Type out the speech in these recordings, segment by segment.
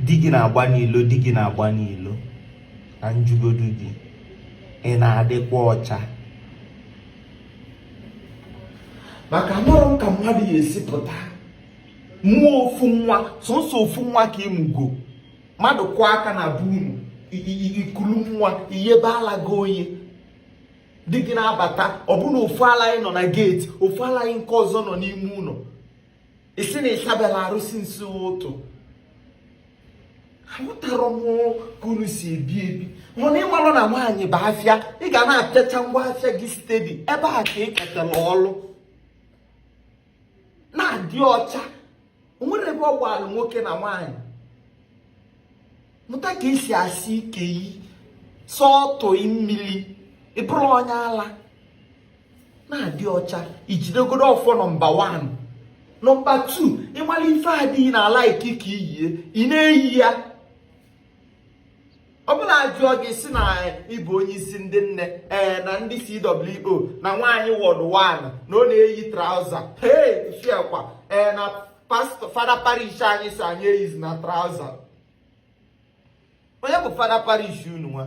di gị na-agba n'ilo di gị na-agba n'ilo ka m jụgodu gị ị na-adịkwa ọcha maka amarọ m ka mmadụ ya esi pụta mụọ ofu nwa sọsọ ofu nwa ka ịmụgo mmadụ kụọ aka na be unu ikulu nwa iyebe ala gị onye di gị na-abata ọbụna ofu ala gị nọ na geeti ofu ala gị nke ọzọ nọ n'ime ụnọ ịsị na ịsaberọ arụ since ụtụtụ aghọtarọ m ka unu si ebi ebi mana ịmalụ na nwaanyị bụ afịa ị ga na-apịacha ngwa afịa gị stedi ebe a ka ị ketara ọlụ na-adị ọcha o nwerọ ebe ọ gbalụ nwoke na nwaanyị mụta ka esi asa ike ị sọtụ mmiri ịbụrụ onye ala na-adị ọcha ijidegodo ọfọ nọmba 1 nọmba 2 ịmalụ ife di gị na-alike ka iyie ị na-eyi ya ọ bụrọ ajụọ gị ịsị na ịbụ onye isi ndị nne ee na ndị CWO na nwaanyị wọd 1 na ọ na-eyi trauza hey fiakwa ee na pastọ fada parish anyị sị anyị eyizina trauza onye bụ fada parish unu nwa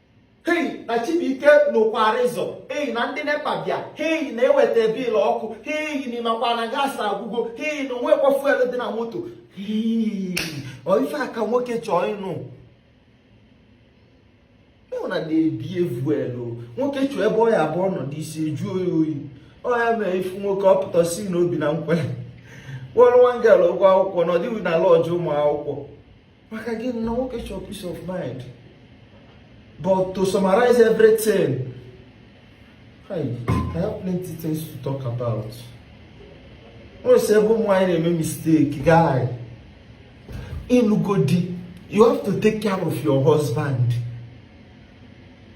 hei na chibuike n'ụkwarịzọ hei na ndị nepa bịa hei na-eweta bil ọkụ hei na ịmakwa na gas agwụgo hei na onwekwa fuel dị na moto ọ ife a ka nwoke chọọ ịnụ ịhụ na na-ebi evuel nwoke chọọ ebe ọ ya abụ ọ nọdụ isi ejuo ya oyi ọ ya mee ịfụ nwoke ọ pụta sị na o bi na nkwelle kwụọrọ nwa gel ụgwọ akwụkwọ nọdụ na lọọjụ ụmụ akwụkwọ maka gịnị nwoke chọọ peace of mind but to summarize everything I have plenty things to talk about nwere sị ebe ụmụ nwaanyị na-eme mistake guy ịlụgo di you have to take care of your husband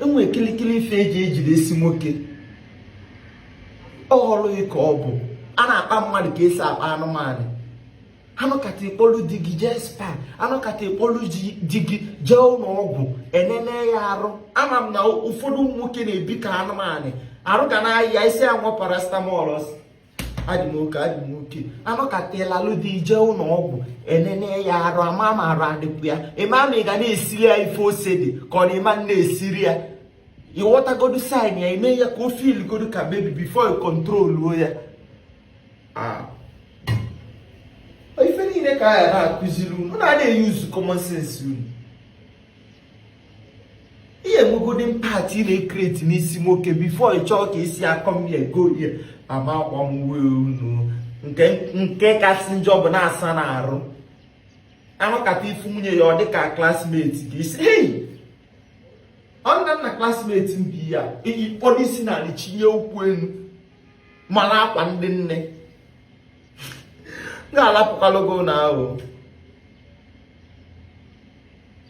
enwe kilikili ife eji ejide isi nwoke ọ bụghị ka ọ bụ a na-akpa mmadụ ka esi akpa anụmanụ anọkata ịkpọlụ di gị jee spa anọkata ịkpọlụ di gị jee ụnọ ọgwụ enene ya arụ ama m na ụfọdụ nwoke na-ebi ka anụmanụ arụ ga na-ayị ya ịsị aṅụọ paracetamol adị m oke adị m oke anọkata ịlalụ di gị jee ụnọ ọgwụ enene ya arụ ama ma arụ adịkwa ya ịma ma ị ga na-esiri ya ife ose dị ka ọ na ịma na-esiri ya ịghọtagodu sain ya ime ya ka o fil godu ka bebi bifo ị kontroluo ya ife niile ka a ya na-akụziri unu na-eyuzu common sense unu i nwegodi impact ị na-ekreti n'isi nwoke before ị chọọ ka isi akọ m ya ego ya ama akwa m uwe unu nke kasị njọ bụ na-asa na arụ a nọkata ị fụ nwunye ya ọ dịka classmate gị ị sị hei ọ nna nna classmate mbi ya ị kpọdo isi n'ala chinye ụkwụ enu mana akwa ndị nne ga-alapụkwala ogo na ahụ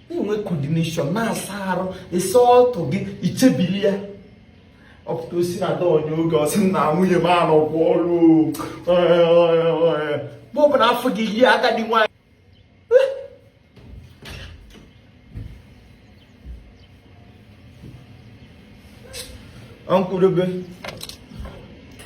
na-enwe coordination na-asa arụ ịsa ọtụ gị i chebili ya ọ pụta ọ sị na ada onye oge ọ sị na nwunye m anọkwa ọrụ mgbe ọ bụla a fụ gị i yi agadi nwaanyị Ang kurubi.